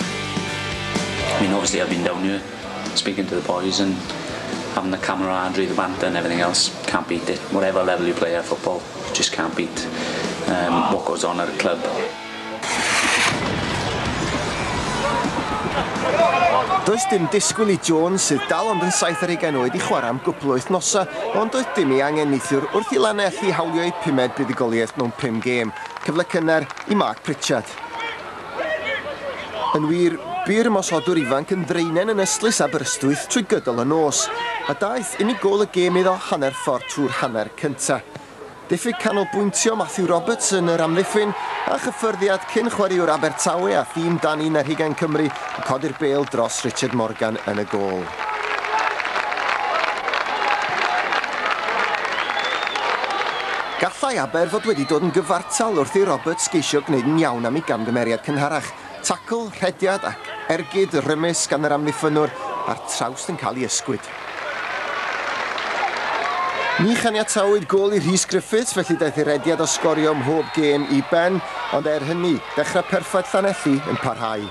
I mean obviously I've been down here speaking to the boys and having the camaraderie, the banter and everything else, can't beat it. Whatever level you play at football, you just can't beat um, what goes on at a club. Does dim disgwyl i Jones, sydd dal ond yn saith ar ugain oed, i chwarae am gwbl wythnosa, ond doedd dim i angen neithiwr wrth i Lanelli hawlio ei pumed buddugoliaeth mewn pum gêm. Cyfle cynnar i Mark Pritchard. Yn wir, bu'r ymosodwr ifanc yn ddraenen yn ystlys Aberystwyth trwy gydol y nos, a daeth unig gôl y gêm iddo hanner ffordd trwy'r hanner cyntaf. Diffyg canolbwyntio Matthew Roberts yn yr amddiffyn, a chyffyrddiad cyn-chwaraewr Abertawe a thîm Dan Un ar Hugain Cymru yn codi'r bêl dros Richard Morgan yn y gôl. Gallai Aber fod wedi dod yn gyfartal wrth i Roberts geisio gwneud yn iawn am ei gamgymeriad cynharach, tacl, rhediad ac ergyd rymus gan yr amddiffynnwr a'r trawst yn cael ei ysgwyd. Ni chaniatawyd gôl i Rhys Griffiths felly daeth ei rediad o sgorio ym mhob gêm i ben, ond er hynny, dechrau perffaith Llanelli yn parhau.